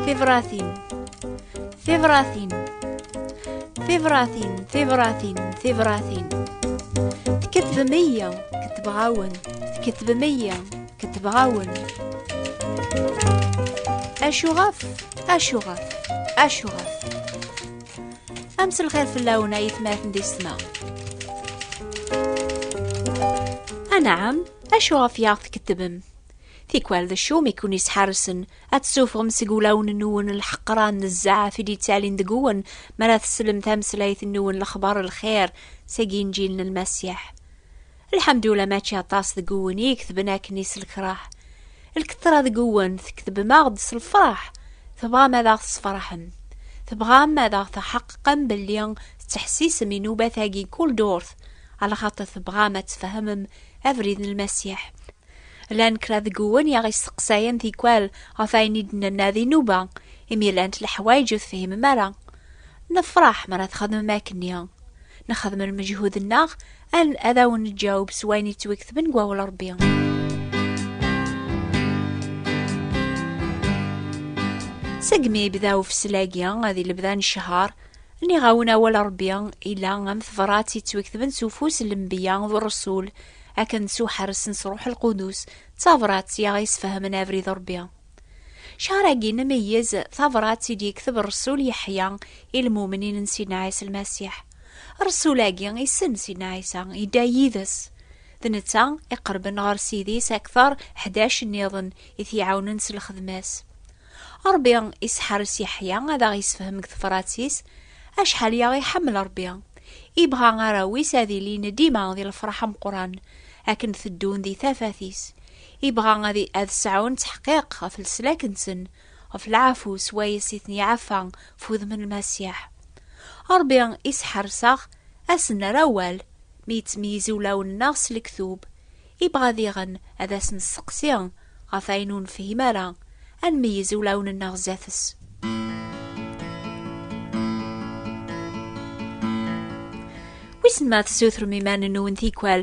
Tibratin Tibratin Tibratin Tibratin Tibratin Tkettbem iya Kettbeɣ-awen Tkettbem iya Kettbeɣ-awen Acuɣef Acuɣef Acuɣef am s lxir fell-awen ay tmaten di ssma. Anɛam, acu ɣef yaɣ tkettbem? Tikwal d acu mi kun isḥarsen ad tessufɣem seg wulawen-nwen lḥeqran n zzaɛaf i d-yettalin deg-wen mi ara teslem tameslayt-nwen lexbar lxir seg inǧil n Lmasiḥ. Lḥamdula mačči aṭas deg uwen i iktben akken is lekraḥ. Lketra deg uwen tektbem-aɣ-d s lefraḥ. Tebɣam ad aɣ-tesfraḥem. Tebɣam ad aɣ-teḥqeqem belli tettḥessisem inubat-agi n kul durt, ala xaṭer tebɣam ad tfehmem abrid n Lmasiḥ. Llan kra deg uwen i aɣ-isteqsayen tikwal ɣef ayen i d-nenna d inuba, imi llant leḥwayeǧ ur tefhimem ara. Nefraḥ mi ara txedmem akkenni. Nexdem lmeǧhud-nneɣ Al ad awen-neǧǧaweb s wayen yettwiketben deg wawal Rebbi. Segmi yebda ufeslagi ad lebda n ccher, niɣawen awal Rebbi ila am tebrat yettwiketben s ufus n lembiya d Rasul akken s uḥeres n ṣruḥ lqudus d tabrat i aɣ-yesfehmen abrid Rebbi. Cahar-agi nemeyyez tabrat i d-yekteb Rasul Yeḥya i lmumnin n Sidna Ɛisa Lmasiḥ. Rrsul-agi issen Sidna Ɛisa, idda yid-s. D netta iqerben ɣer Sidi-s akteṛ ḥdac nniḍen i t-iɛawnen s lxedma-s. Ṛebbi isḥeṛṛes Yeḥya ad aɣ-isefhem deg tefrat-is acḥal i aɣ-iḥemmel Ṛebbi. Ibɣa arraw-is ad ilin dima di lefṛeḥ ameqran akken teddun di tafat-is. Ibɣa ad sɛun ttḥeqqiq ɣef leslak-nsen ɣef lɛafu s wayes i ten-iɛafa f wudem n Lmasiḥ. Ṛebbi i s-ḥerseɣ, a s-nerr awal mi yettmeyyiz ulawen-nneɣ s lektub, ibɣa diɣen ad as-nesteqsi ɣef ayen ur nefhim ara, ad nmeyyez ulawen-nneɣ sdat-s. Wissen ma tessutrem iman-nwen tikwal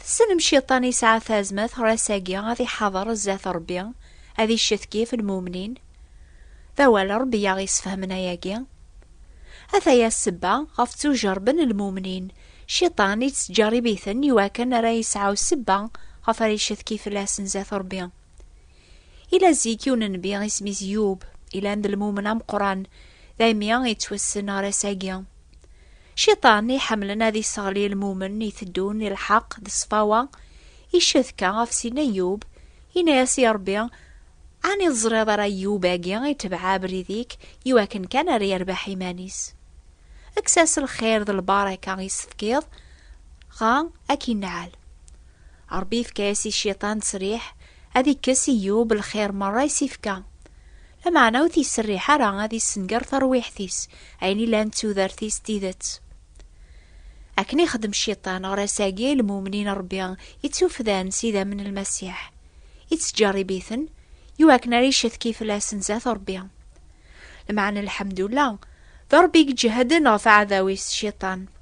Tessnem Cciṭan yesɛa tazmert ɣer ass-agi ad iḥader zdat Ṛebbi, ad iccetkif lmumnin. D awal n Ṛebbi i aɣ-yessefhamen ayagi. Ataya ssebba ɣef ttujerrben lmumnin, Cciṭan yettǧerrib-iten iwakken ara yesɛu ssebba ɣef ara iccetki fell-asen zdat Ṛebbi. Yella zik yiwen n nnbi isem-is Yub, yellan d lmumen ameqqran, daymi yettwassen ɣer ass-agi. Ciṭan iḥemmlen ad isseɣli ilmumen iteddun i lḥeqq d ṣṣfawa, icetka ɣef sin Ayub, yenna-yas i Ṛebbi, Ɛni ur ẓriḍ ara Ayub-agi itebɛ abrid-ik iwakken kan ar yerbeḥ iman-is? Kkes-as lxir d lbaraka i s-tefkiḍ, ɣa ad k-inneɛɛel. Ṛebbi ifka-yas i Ciṭan ţţriḥ ad ikkes i Yub lxir meṛṛa i s-ifka. Lameɛna ur t-yesserriḥ ara ad yessenger tarwiḥt-is, ayen ilan d tudert-is d tidet. Akken ixdem cciṭan ɣer ass-agi i lmumnin n Rebbi ittufdan s idammen n Lmasiḥ, ittǧerrib-iten i wakken ara iccetki fell-asen zdat Rebbi. Lameɛna lḥemdullah, d Rebbi i iǧehden ɣef aɛdaw-is cciṭan.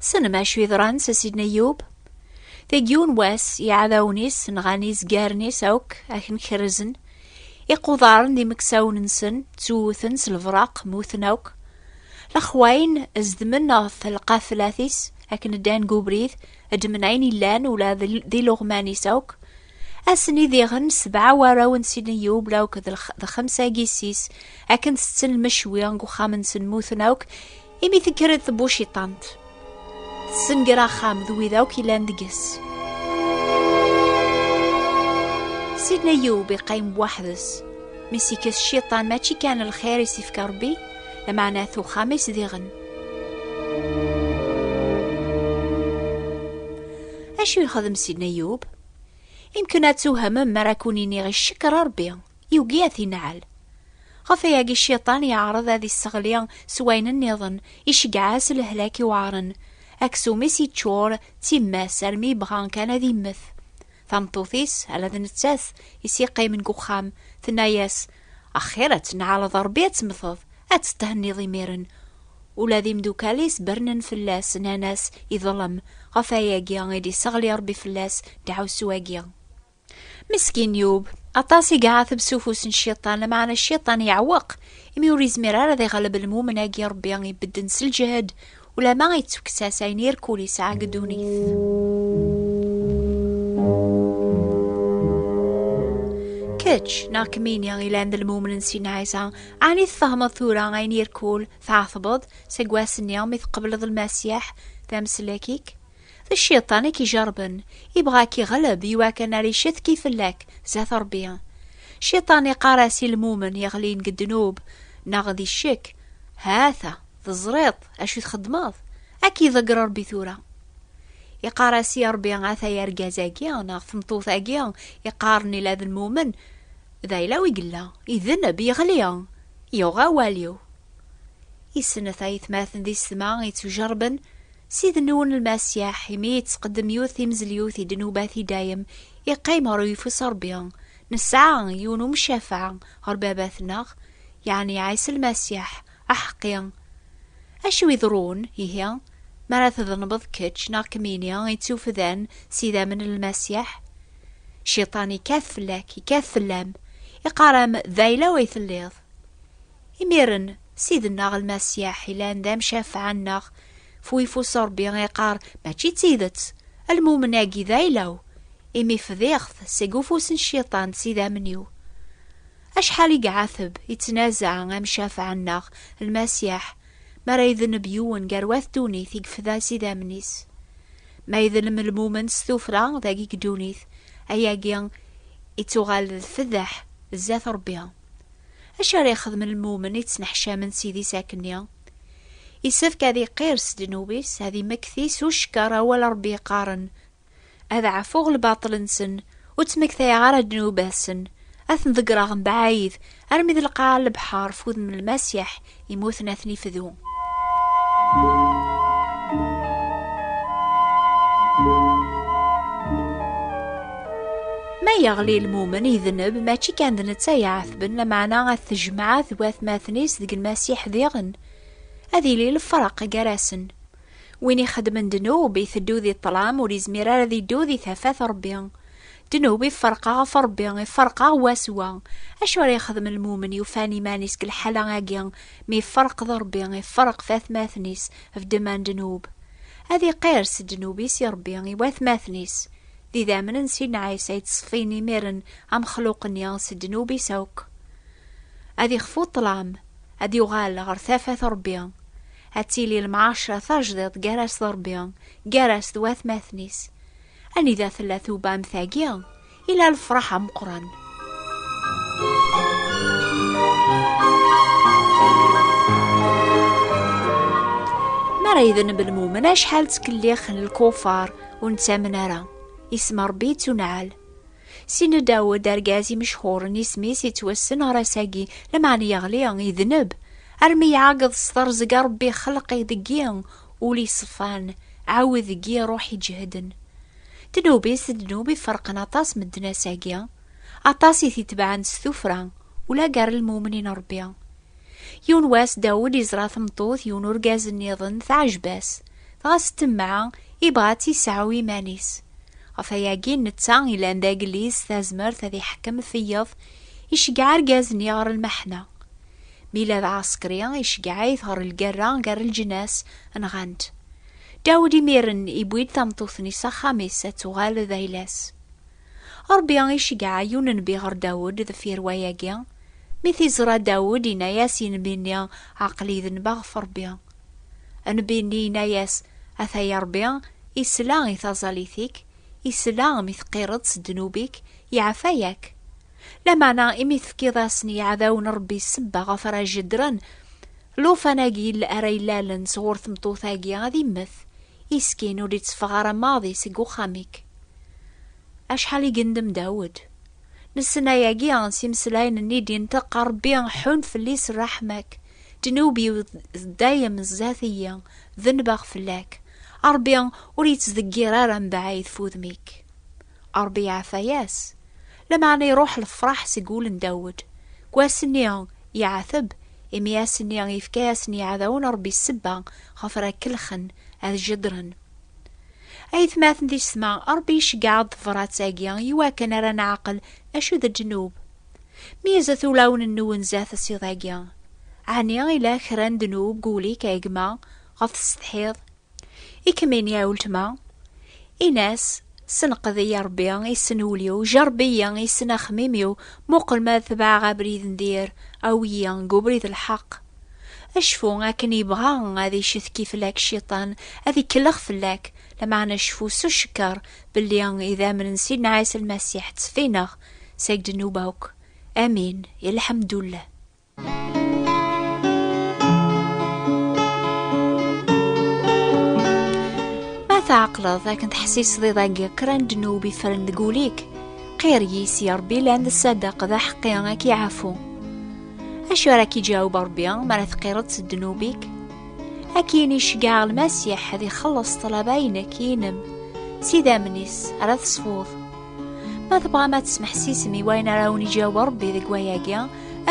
Tessnem acu yeḍran s Sidna Yub? Deg yiwen wass, iɛdawen-is nɣan izgaren-is akk akken kerrzen, iqudaren d imeksawen-nsen ttewwten s lebraq, mmuten akk. Lexwayen zedmen ɣef lqaflat-is akken ddan deg ubrid, ddmen ayen illan ula d iluɣman-is akk. Ass-nni diɣen sebɛa warraw n Sidna Yub la akk d xemsa n yessi-s akken tetten lmecwi deg uxxam-nsen mmuten akk, Imi tekker-d tbuciṭant, tessenger axxam d wid akk yellan deg-s. Sidna Yub iqqim weḥd-s, mi s-ikkes cciṭan mačči kan lxir i s-ifka Rebbi, lameɛna at uxxam-is diɣen. Acu yexdem Sidna Yub? Imken ad tuhemem mi ara kun-iniɣ icekkeṛ Rebbi, Yugi ad t-inɛel. Ɣef ayagi cciṭan yeɛreḍ ad isseɣli s wayen nniḍen, iceggeɛ-as lehlak iweɛren. Aksum-is yeččur d timmas armi yebɣa kan ad immet. Tameṭṭut-is, ala d nettat i s-yeqqimen deg uxxam, tenna-as, Axir ad tennɛaleḍ Rebbi ad temmteḍ, ad tetthenniḍ imiren. Ula d imdukal-is bernen fell-as, nnan-as, Iḍlem, ɣef ayagi i d-isseɣli Rebbi fell-as ddaɛwessu-agi. Meskin yub, aṭas i iɛateb s ufus n cciṭan, lameɛna cciṭan yeɛweq, imi ur yezmir ara ad iɣleb lmumen-agi Rebbi ibedden s lǧehd, ulama ittukkes-as ayen irkul yesɛa deg ddunit. Kečč neɣ kemmini ilan d lmumen n Sidna Ɛisa, ɛni tfehmeḍ tura ayen irkul tɛatbeḍ seg wass-nni mi tqebleḍ Lmasiḥ d ameslak-ik? D cciṭan i k-ijerben, ibɣa a k-iɣleb i wakken ar icetki fell-ak zdat Ṛebbi. Cciṭan iqqar-as i lmumen yeɣlin deg ddnub neɣ di ccek, Ha-t-a, teẓriḍ acu txeddmeḍ? A k-iḍegger Ṛebbi tura! Iqqar-as i Ṛebbi, Ata yargaz-agi neɣ tmeṭṭut-agi iqqaren ila d lmumen, d ayla-w i yella, idenb, yeɣli, yuɣ awal-iw. I snat ayetmaten di setma ittujerben, Ssid-nwen Lmasiḥ, imi yettqeddem yiwet timzelyut i ddnubat i dayem, iqqim ɣer uyeffus Rebbi. Nesɛa yiwen umcafaɛ ɣer Babat-nneɣ, yeɛni Ɛisa Lmasiḥ, aḥeqqi. Acu iḍerrun, ihi, mi ara tḍelmeḍ kečč neɣ kemmini ittuffdan s idammen n Lmasiḥ? Cciṭan ikkat fell-ak, ikkat fell-am, iqqar-am, D ayla-w i telliḍ. Imiren, Ssid-nneɣ Lmasiḥ yellan d amcafeɛ-nneɣ. F uyeffus n Ṛebbi iqqar, Mačči d tidet! Lmumen-agi d ayla-w, imi fdiɣ-t seg ufus n Cciṭan s idammen-iw. Acḥal i iɛateb, ittnazaɛ amcafeɛ-nneɣ, Lmasiḥ, mi ara idneb yiwen gar wat ddunit i yefda s idammen-is! Ma idlem lmumen s tufra dagi deg ddunit, ayagi ittuɣal d fdeḥ zdat Ṛebbi. Acu ara yexdem lmumen yettneḥcamen s idis akenni? Isefk ad iqir s ddnub-is, ad imekti s ucekker awal Rebbi yeqqaren, Ad ɛfuɣ lbaṭel-nsen, ur ttmektayeɣ ara ddnubat-sen, ad ten-ḍeggreɣ mebɛid, armi d lqaɛa n lebḥer f udem n Lmasiḥ, Imuten ad ten-ifdu. Ma yeɣli lmumen idneb mačči kan d netta iɛetben lameɛna ad tejmeɛ d watmaten-is deg lmasiḥ diɣen ad yili lefraq gar-asen win ixedmen ddnub iteddu di ṭṭlam ur izmir ara ad iddu di tafat Ṛebbi Ddnub iferq-aɣ ɣef Ṛebbi, iferq-aɣ wa s wa. Acu ara yexdem lmumen yufan iman-is deg lḥala-agi, mi iferq d Ṛebbi, iferq d atmaten-is, vdma n ddnub? Ad iqirr s ddnub-is i Ṛebbi, i watmaten-is. D idammen n Sidna Ɛisa i ţṣfin imiren amexluq-nni s ddnub-is akk. Ad ixfu ṭṭlam, ad yuɣal ɣer tafat n Ṛebbi. Ad tili lemɛaceṛa tajdiṭ gar-as d Ṛebbi, gar-as d watmaten-is. Anida tella tuba am tagi, ila lefraḥ ameqran. ara idenb lmumen acḥal ttkellix n lkufar ur nettamen ara isem rebbi yettuneɛal sin dawed argaz imecḥuren isem-is yettwassen ɣer ass-agi lameɛna yeɣli idenb armi iɛageḍ s terẓeg rebbi xelq-id deg-i ul iṣefan ɛawed deg iruḥ iǧehden ddnub-is d ddnub iferqen aṭas medden ass-agi aṭas i t-itebɛen s tufra ula gar lmumnin rebbi yiwen wass Dawed iẓra tmeṭṭut yiwen urgaz nniḍen teɛjeb-as dɣa s temmeɛ ibɣa ad tt-iseɛɛu iman-is ɣef ayagi netta ilan d agellid s tazmert ad iḥekkem feyeḍ iceggeɛ argaz-nni ɣer lmeḥna Mi la d Ɛaṣkri iceggeɛ-it ɣer lgerra gar lǧnas, nɣan-t. Dawed imiren iwwi-d tameṭṭut-nni s axxam-is ad tuɣal d ayla-s. Ṛebbi iceggeɛ yiwen n nnbi ɣer Dawed deffir wayagi. Mi t-iẓra Dawed, yenna-as i nnbi-nni, Aql-i denbeɣ ɣef Ṛebbi. Nnbi-nni yenna-as, Ataya Ṛebbi isla i taẓallit-ik, isla mi teqqireḍ s ddnub-ik, iɛfa-ak. Lameɛna imi tefkiḍ-asen i yiɛdawen n Ṛebbi ssebba ɣef ara jeddren, llufan-agi ara ilalen sɣur tmeṭṭut-agi ad immet, iskin ur d-itteffeɣ ara maḍi seg uxxam-ik. Acḥal i yendem Dawed! Nessen ayagi s imeslayen-nni i d-inṭeq, A Ṛebbi, ḥunn fell-i s ṛṛeḥma-k, ddnub-iw d dayem sdat-iyi, dennbeɣ fell-ak. A Ṛebbi, ur ittdeggir ara mebɛid f udem-ik. Ṛebbi iɛafayas. Lameɛna iṛuḥ lefṛaḥ seg wul n Dawed. Deg wass-nni, iɛateb, imi ass-nni yefka-yasen yiɛdawen Ṛebbi ssebba ɣef ara kellxen, ad jeddren. Aytmaten tisetma, Ṛebbi iceggeɛ-aɣ-d tebṛat-agi iwakken ara neɛqel acu d ddnub. Meyyzet ulawen-nwen zdat asiḍ-agi. Ɛni ila kra n ddnub deg wul-ik a gma ɣef tessetḥiḍ? I kem-ini a weltma? Ini-as, Senqed-iyi a Ṛebbi, issen ul-iw, jeṛṛeb-iyi, issen axemmim-iw, muqel ma ad tebɛeɣ abrid n dir, awi-yi deg ubrid n lḥeqq. Cfu akken yebɣa ad icetki fell-ak Cciṭan, ad ikellex fell-ak, lameɛna cfu s ucekker belli idammen n Sidna Ɛisa Lmasiḥ tteffineɣ seg ddnub akk. Amin, i lḥemdullah. Ma tɛeqleḍ akken teḥsiseḍ iḍagi kra n ddnub ifren deg ul-ik, qir yis ya Ṛebbi lan d ṣṣadaq d aḥeqqi ad k-iɛfu. Acu ara k-iǧaweb Ṛebbi mi ara teqqireḍ s ddnub-ik? Ad k-yini ceggɛeɣ Lmasiḥ ad ixelleṣ ṭṭlaba-inek, inem, s idammen-is ara tesfuḍ. Ma tebɣam ad tesmeḥsisem i wayen ara wen-iǧaweb Rebbi deg wayagi,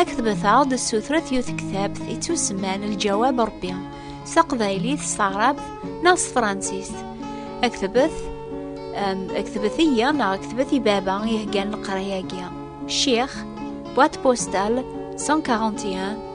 aktebt-aɣ-d ssutret yiwet tektabt i tusman Lǧawab Rebbi s taqbaylit, s taɛrabt neɣ s tefransist. Aktebt aktbet-iyi neɣ aktbet i baba iheggan leqraya-agi. Ccix, boîte postale 141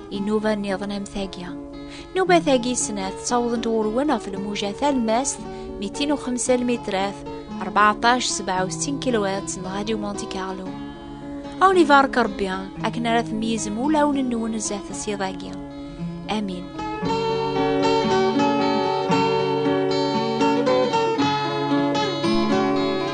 Inuba nniḍen am tagi. Nuba tagi snat ttawḍent ɣurwen ɣef lmuja talmast 205 lmitrat 1467 kilowat n Radio Monte Carlo. Awen ibarek Rebbi akken ara tmeyyzem ulawen-nwen zdat s iḍ-agi. Amin.